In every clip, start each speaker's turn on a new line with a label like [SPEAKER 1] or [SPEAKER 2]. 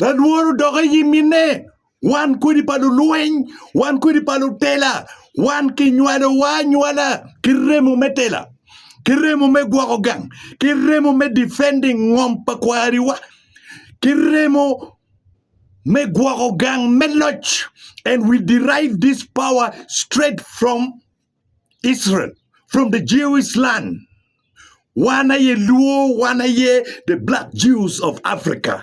[SPEAKER 1] Lalworo odok i nyim minne, wan kodi pa lulweny, wan kodi pa lutela, wan kinywalowa anywala ki remo me tela, ki remo me gwoko gang, ki remo me defending ngom pa kwariwa, ki remo me gwoko gang me loc, and we derive this power straight from. Israel from the Jewish land. Wan aye Luo, wan aye the black Jews of Africa.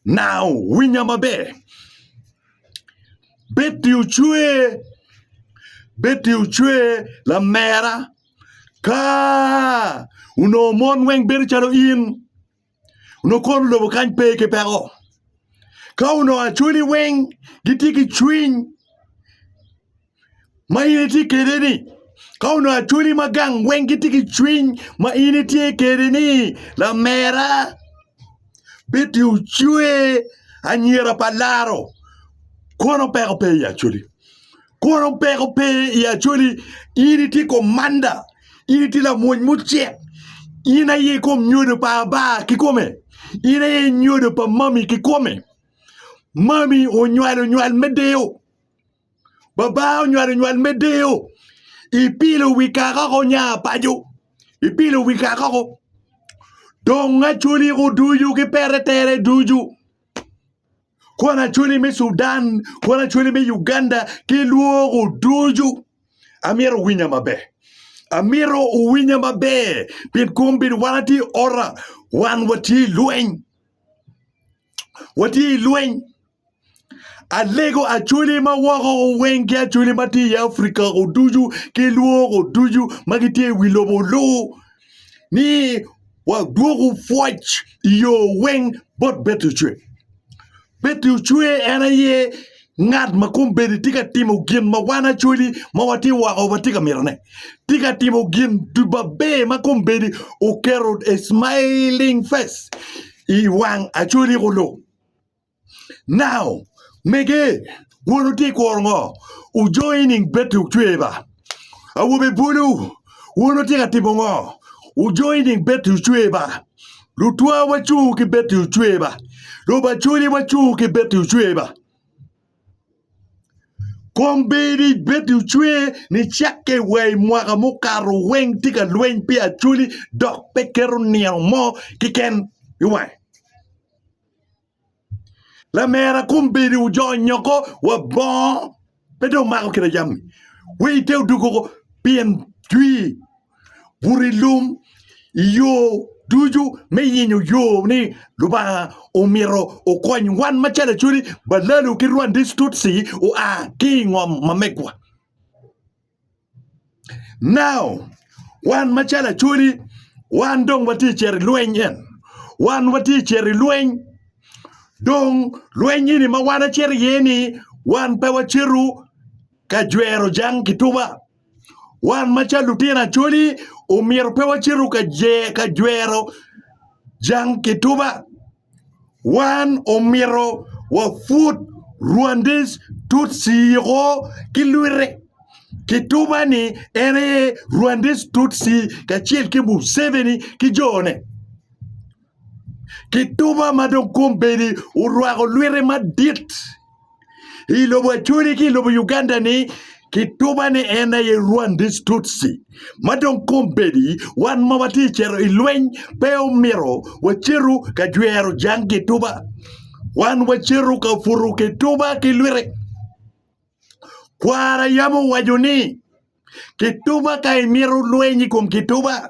[SPEAKER 1] Now, winya maber. Betty Ochwe, Betty Ochwe, lamera, ka onongo mon weng bedo calo in, onongo kor lobo kany pe ki peko. Ka onongo acwali weng gitye ki cwiny ma in itye kwede-ni, ka onongo acwali ma gang weng gitye ki cwiny ma in itye kwede ni lamera bit i ocwe anyira pa laro kono peko pe i acwali. Kono peko pe i Acholi, in itye komanda, in itye lamwony mucek, in aye ikom nyodo pa Aba kikome, in aye nyodo pa mami kikome. Mami onywalo nywal me deyo, baba onywalo nywal me deyo, ipilo wi kakoko nya paco, ipilo wi kakoko. Dong Acholi kuducu ki pete tere ducu. Kwon Acholi me Cudan, Kwon Acholi me Uganda ki lwoko ducu. Amyero wuwinya maber. Amyero wuwinya maber pien kom bedo wan atye i ora, wan watye i lweny. Watye i lweny. Alego Acholi ma woko weng ki Acholi ma tye i Africa woko ducu ki lwoko ducu ma gitye i wi lobo lu ni wadwoku pwoc i yo weng bot Betucwe. Betucwe en aye ngat ma kombeddi tye ka timo gin ma wan Acholi ma watye woko watye ka mitone. Tye ka timo gin ducu maber ma kombeddi oketo a smiling face i wang Acholi kulu. Now, mege, wun wutye i kuro ngo? Wu joining bed to cwer ba. Awobe bulu, wun wutye ka timo ngo? Wu joining bed to cwer ba. Lutwa wacung ki bed to cwer ba. Lubaculi wacung ki bed to cwer ba. Kom bedi bed to cwer ni cakke wa i mwaka mukato weng tye ka lweny pi aculi dok pe keto nino mo kiken i wange. Lamera kom bedo wu jo nyoko wa bongo pe dong mako kine jami we ite odoko ko pien jwi buto i lum i yo ducu me yenyo yo ni Lubanga omito okony wan macalo Acholi, Balalu ki Rwandec Tutsi oa ki i ngom ma megwa. Now, wan macalo Acholi, wan dong watye ka cito i lweny en. Wan watye ka cito i lweny. Dong lweny eni ma wan wacito iye ni wan pe wacito ka jwero jang kituba. Wan macalo lutino Acholi omyero pe wacito ka jwero jang kituba. Wan omito wapwod Rwandais Tutsi oko ki lwite. Kituba ni en aye Rwandais Tutsi kacel ki Museveni ki jone. Kituba ma dong kombeddi orwako lwite madit. I lobo Acholi ki i lobo Uganda ni kituba ni en aye Rwandese Tutsi ma dong kombedi wan ma watye cito i lweny pe omito wacetu ka jwero jang kituba wan wacetu ka puto kituba ki lwite kwara yam owaco ni kituba ka imito lweny i kom kituba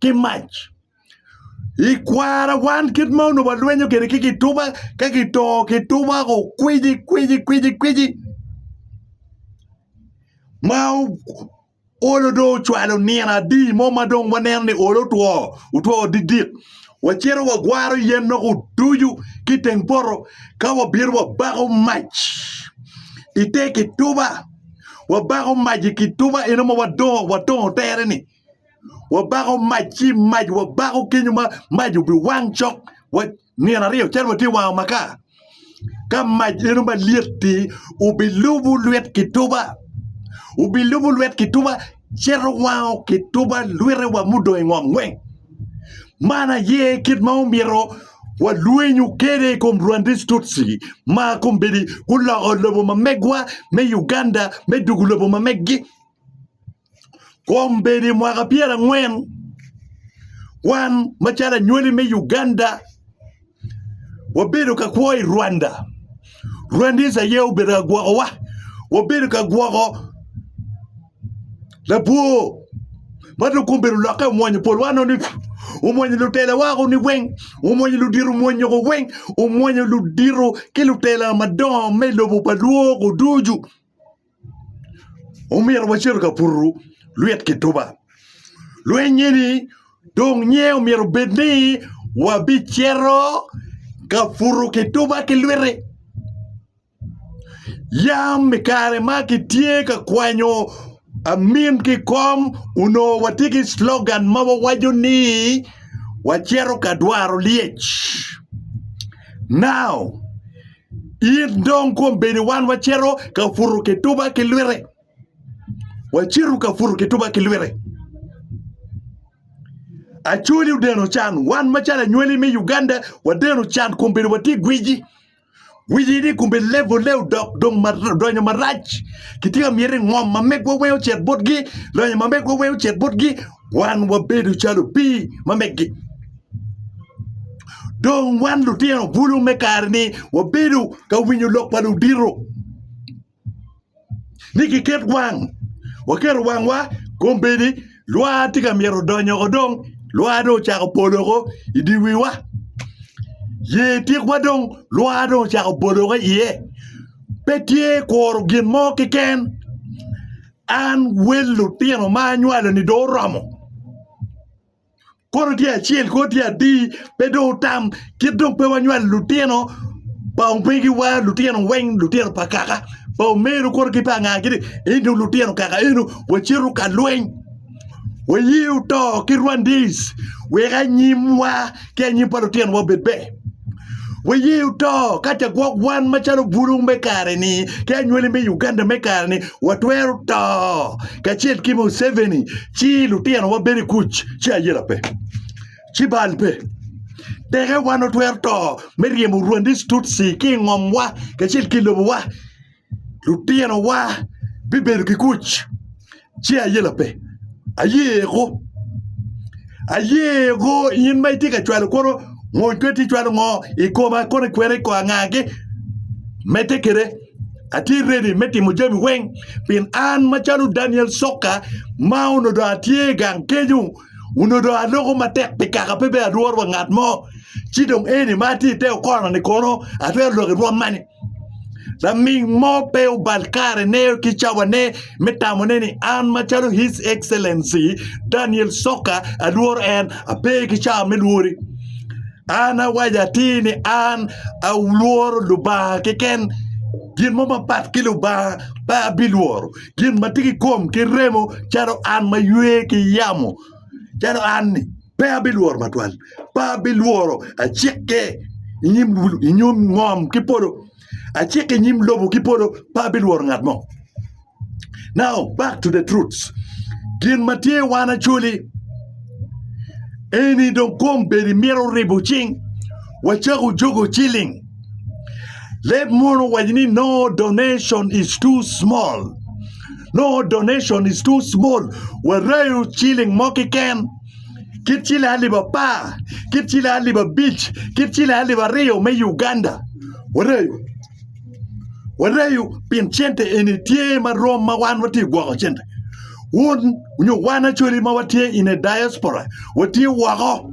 [SPEAKER 1] ki mac i kwara wan kit ma onongo walwenyo kwede ki kituba ka kito kituba ko kwiji kwiji kwiji kwiji ma olo dong ocwalo nino adi mo ma dong waneno ni olo otwo otwo didik wacito wagwaro yen nongo oducu ki i teng poto ka wabito wabako mac ite kituba wabako mac i kituba eno ma wadongo watongo tere-ni. wabako mac ci mac wabako kenyo ma mac obiwang cok nino aryo calo watye wango maka ka mac eno malyet-ti obilubo lwit kituba obilubo lwit kituba cito wango kituba lwitewa mudong i ngom weng man aye kit ma omyero walwenyo kwede i kom rwandi tutsi ma kombeddi guloko lobo ma megwa me Uganda me dwogo lobo ma megi. Kombeddi mwaka pyera angwen wan macalo anywali me Uganda wabedo ka kwo i Rwanda, Rwandese aye obedo ka gwoko wa, wabedo ka gwoko labwor ma dong kombeddi olokke omwonyo polwa nongo ducu, omwonyo lutela wa o koni weng, omwonyo ludito mwonyo ko weng, omwonyo ludito ki lutela madongo me lobo pa lwor ko ducu. omyero wacito ka puto lwit kituba. Lweny eni dong nye omyero obed ni wabicito ka puto kituba ki lwiti. Yam i kare ma kitye ka kwanyo amin ki i kom onongo watye ki clogan ma wawaco ni wacito ka dwaro lyec. Now! In dong kom bedi wan wacito ka puto kituba ki lwite. Wacito ka puto kituba ki lwite. Acholi odeno can, wan macalo anywali me Uganda wadeno can kom bedi watye gwici. Gwici ni kom bedi levole odok dong mar- donyo marac. Kitye ka miti ngom ma megwa weng ocit botgi, lonyo ma megwa weng ocit botgi, Wan wabedo calo opii ma meggi. Dong wan lutino bulu me kare-ni wabedo ka winyo lok pa ludito ni giket wang, waketo wangwa kombeddi lwa tye ka myero odony oko dong, lwa dong ocako pol oko i dye wiwa, ye tikwa dong lwa dong ocako bolo woko iye pe tye kuro gin mo keken. An wel lutino ma anywalo-ni dong oromo. Kono tye acel, kono tye adi, pe dong wutam. Kit dong pe wanywalo lutino pa omegiwa, lutino weng, lutino pa kaka, pa omeru kono ki pa anga, gin ni, 'Eni dong lutino kaka eno, wacito ka lweny. Waye oto ki Rwandese wek anyimwa ki anyim pa lutinowa obed ber. Waye oto ka ce gwok wan macalo bulu me kare-ni ki anywali me Uganda me kare-ni watwero to kacel ki Museveni ci lutinowa bedo i kuc ci ayela pe, ci bal pe. Teke wan watwero to me ryemo Rwandese Tutsi ki i ngomwa kacel ki i lobowa. Lutinowa bibedo ki kuc ci aye lape? Ayeko. Ayeko in ma itye ka cwalo kono ngo pe ti cwalo ngo i koma kono ikwena i ko angagi medde kede atye redi me timo jami weng pien an macalo Daniel Soka ma onongo dong atye gang kenyo onongo dong aloko matek pi kaka pe bed alworo wa ngat mo ci dong eni ma atye i te okono-ni kono atwero lok i rwom mani? Laming mo pe obal karene ki cawane me tamone ni an macalo His Excellency Daniel Soka alworo en. Ape ki cawa me lwori. An awaco atir ni an alworo Lubanga keken. Gin mo mapat ki Lubanga pe abilworo. Gin ma tye ki kom ki remo calo an ma ywe ki yamo calo an-ni. Pe abilworo matwal, pe abilworo. Acikke i nyim, i nyim ngom ki polo, acikke i nyim lobo ki polo, pe abilworo ngat mo. Now, back to the truths. Gin ma tye wan acoli eni dong kom bedi mito ribo cing wacako jogo ciling. Leb mono waco ni no donation is too small. no donation is too small wareyo ciling mo kiken kit ciling alip apar kit ciling alip abic kit ciling alip aryo me Uganda wareyo wareyo pien cente eni tye ma rom ma wan watye gwoko cente wun nyo wan acoli ma watye in a diaspora watye woko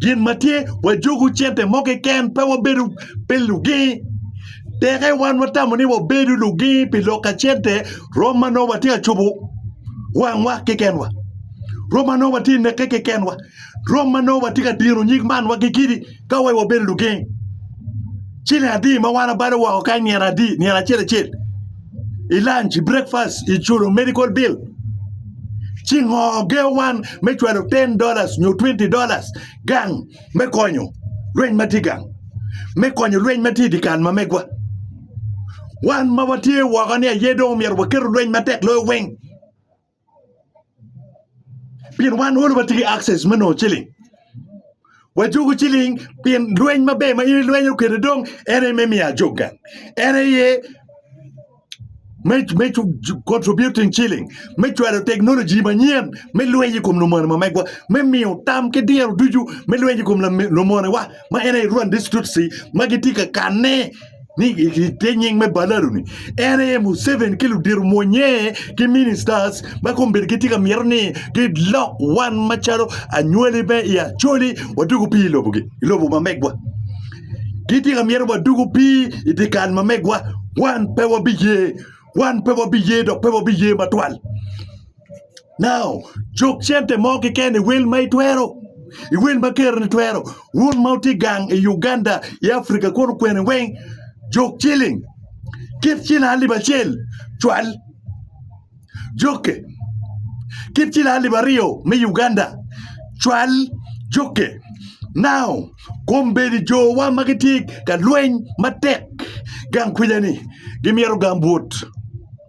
[SPEAKER 1] Gin ma tye, wajuku cente mo keken, pe wabedo pi lugi. Teke wan watamo ni wabedo lugi pi lok ka cente, rwom ma nongo watye ka cobo wangwa kekenwa, rwom ma nongo watye ka neke kekenwa, rwom ma nongo watye ka dino nyig man wa ki kidi ka wai wabedo lugi. Ciling adi ma wan abalo woko kany nino adi, nino acel acel. i lanc i brekfast i culo medical bill ci ngo geo wan me cwalo 10 dollars nyo 20 dollars gang me konyo lweny ma tye gang me konyo lweny ma tye i dikal ma megwa wan ma watye woko ni aye dong omyero waketo lweny matek loyo weng Pien wan all watye ki access me nongo ciling. Wajuko ciling pien lweny maber ma in ilwenyo kwede dong en aye me miyo ajog gang. En aye me me contributing ciling, me cwalo teknoloji manyen, me lweny i kom lumonewa megwa, me miyo tam ki diro ducu me lweny i kom lame- lumonewa. ma en aye Rwanda East Tutsi ma gitye ka kanne ni ite nying me Balalu-ni, en aye Museveni ki ludito omwonye ki ministers ma kombeddi gitye ka myero ni gilok wan macalo anywali me i Acholi wadugu pii i lobogi, i lobo ma megwa. Gitye ka myero wadugu pii i dyekal ma megwa, wan pe wabiye, wan pe wabiye dok pe wabiye matwal. Now, cuk cente mo keken i wel ma itwero, i wel ma keroni twero. Wun ma wutye gang i Uganda, i Africa kunu kwene weng, juk ciling, kit ciling alip acel cwal. Jukke, kit ciling alip aryo me Uganda cwal. Jukke. Now, kombeddi jowa ma gitye ka lweny matek gang kwija-ni gimyero gambut.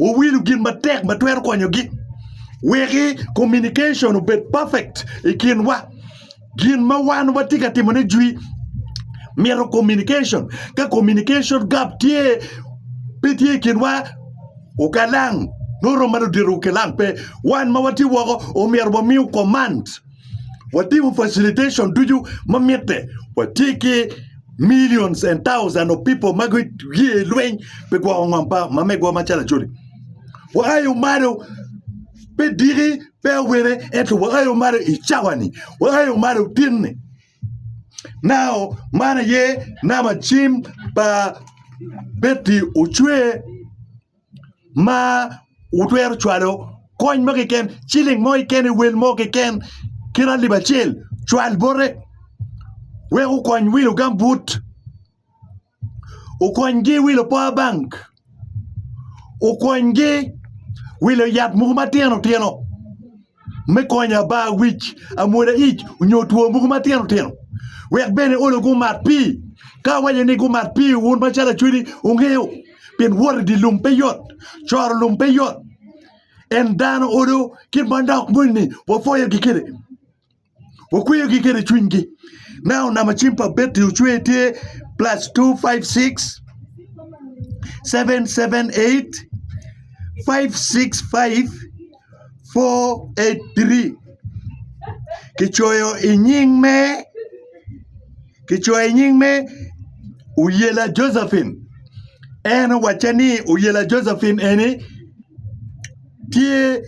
[SPEAKER 1] Wuwilo gin matek ma twero konyogi. Weki communication obed perfect i kinwa. Gin ma wan watye ka timone jwi mito communication. Ka communication gap tye, pe tye i kinwa, okalang nongo romo ma ludito-gu kilang pe. Wan ma watye woko omyero wamiu command. watimo facilitation ducu ma mitte. Watye ki millions and thousands of people ma guye i lweny pi gwoko ngom pa mamegwa macalo Acholi. Waayo malo pe diki pe awene ento waayo malo i cawani, waayo malo tinni. Now man aye namba cim pa Betty Ocwe. ma wutwero cwalo kony mo keken ciling mo keken i wel mo keken kit alip acel cwal bote wek okony wilo gambut okonygi wilo power bank okonygi wilo yat mogo matino tino. me konyo aba, wic, amwoda ic, onyo two mogo matino tino. Wek bene olo gumat pi. Ka awaco ni gumat pi wun macalo acwedi wungeyo, pien wot idye lum pe yot, coro lum pe yot. En dano odo kit manok moni ni wapwoyo gi kede. Wukweyogi kene i cwinygi. Now nama cim pa betri ocwer tye plus 256778565483 kicoyo i nying me kicoyo i nying me Oyela Josephine en owacca ni Oyela Josephine eni tye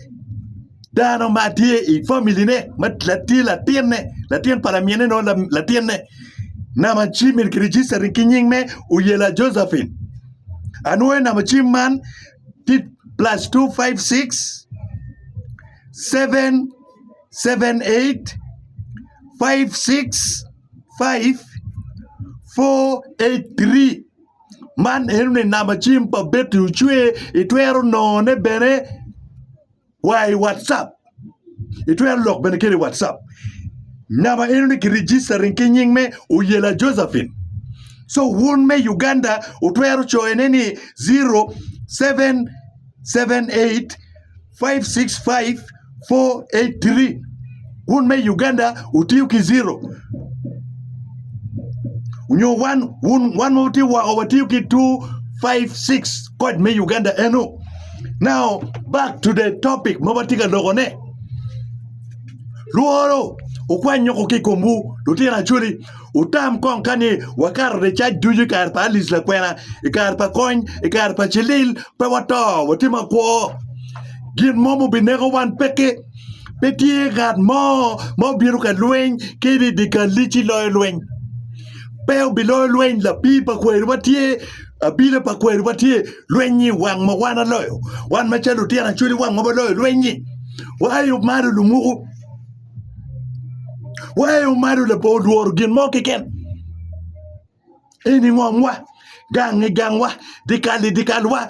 [SPEAKER 1] Dano ma tye i family ne ma tye latin ne latin pa lamin ne nongo latin ne nama cim eni ki registering ki nying me Oyela Josephine anwoyo nama cim man tye plus two five six seven seven eight five six five four eight three man eno ni nama cim pa Betty Ocwe itwero nongone bene. wa i WhatsApp. Itwero lok bene kede WhatsApp. Namba eno ni ki registering ki nying me Oyela Josephine. So wun me Uganda utwero coyone ni 0778 565 483. Wun me i Uganda wutiyo ki zero nyo wan wun wan ma wutye woko watiyo ki 256 kod me Uganda eno. Now back to the topic ma watye ka lokone. Lworo wukwany nyoko ki i komwu lutino acoli wutam kong ka ni wakato ricac ducu i kare pa Alice Lakwena i kare pa kony i kare pa Cilil pe wato watye makwo gin mo ma obineko wan peke. Pe tye ngat mo ma obino ka lweny ki ni dye kalli ci loyo lweny. Pe obiloyo lweny lapii pa kweri ma tye, abila pa kweri ma tye. Lweny-nyi wang ma wan aloyo, wan macalo lutino acwali wang ma waloyo lweny-nyi. Wa aye malo lumuku, wa aye malo labongo olworo gin mo keken. Eni ngomwa, gangi gangwa, dye kalli dye kalwa.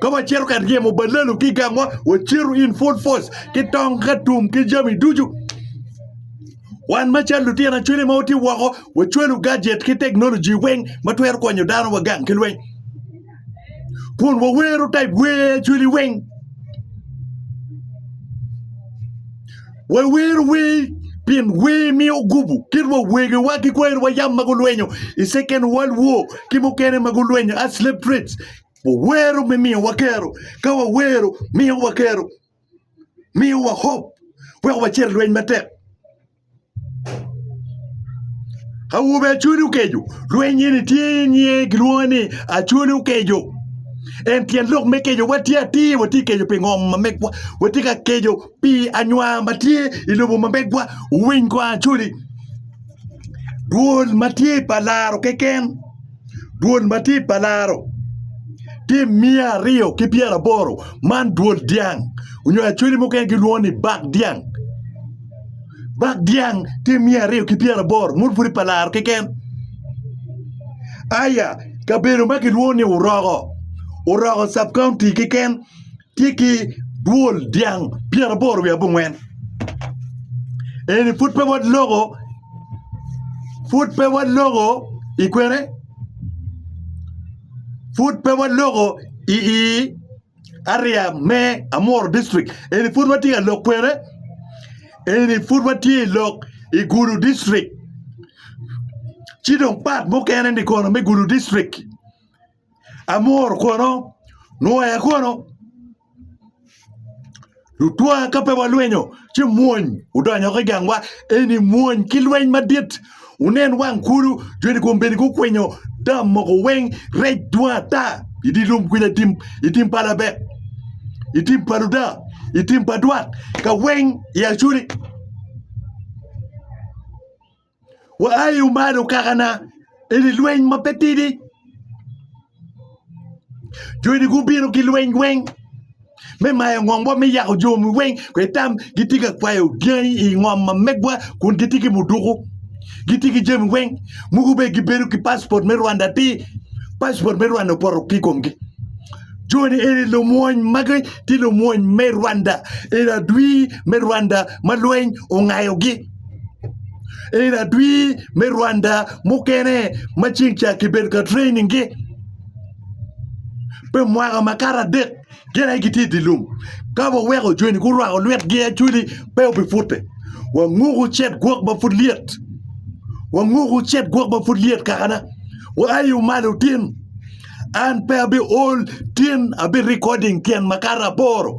[SPEAKER 1] Ka wacito ka ryemo balelu ki i gangwa, wacito in full force ki tong ka tum ki jami ducu. Wan macalo lutino acwele ma watye woko, wacwalo gadget ki teknoloji weng ma twero konyo dano wagang ki lweny. Kun wawero type wer acweli weng. Wawero wer pien wer miyo gubu kit wa wegewa ki kwerewa yam ma gulwenyo i Second World War ki mukene ma gulwenyo as slave trades Wawero me miyowa kero. Ka wawero, miyowa kero, miyowa hop, weko wacit i lweny matek. Awobe Acholi Okeco, lweny eni tye i nge gilwongo ni Acholi Okeco. En tyen lok me keco, watye atir, watye ka keco pi ngom ma megwa, watye ka keco pi anywa ma tye i lobo ma megwa. Wuwiny kong Acholi, dwol ma tye pa laro keken. dwol matir pa laro tye miya aryo ki pyeraboro man dwol dyang onyo acholi mukene gilwongo ni bak dyang, bak dyang tye miya aryo ki pyeraboro meno pwod pa laro keken aya kabedo ma kilwongo ni oroko, oroko cabcounty keken. tye ki dwol dyang pyeraboro wiye abongwen. Eni pud pe waloko pud pe waloko i kwene pud pe waloko i i area me Amuru district eni pud watye ka lok kwene eni pud watye i lok i Gulu district ci dong part mukene-ni kono me Gulu district Amor kono nwoya kono lutwa ka pe walwenyo ci mwony odonyo ki gangwa eni mwony ki lweny madit wunen wang kulu joni kombeddi gukwinyo dam mogo weng rec dwong ata idi lum kwica i tim pa labek i tim pa luda i tim pa dwak ka weng i acuri. Waaye wumayo okakana, eni lweny ma pe tidi. Joni gubino ki lweny weng me mayo ngomwa me yako jomi weng kwe tam gitye ka kwayo dyangi i ngom ma megwa kun gitye ki muduku gitye ki jami weng mogo bene gibedo ki paspot me Rwanda atir paspot me Rwanda opoto ki i komgi joni eni lumwony magi tye lumwony me Rwanda eni adwir me Rwanda ma lweny ongayogi. en adwi me Rwanda mukene ma ceng ca kibedo ka training-gi pi mwaka makato adek gin aye gitye i dye lum ka waweko joni gurwako lwetgi actually pe wubipute wanguku cet gwok ma pud lyet wanguku cet gwok ma pud lyet kakana wuai malo tin an pe abi ol tin abi recording tyen makato aboro.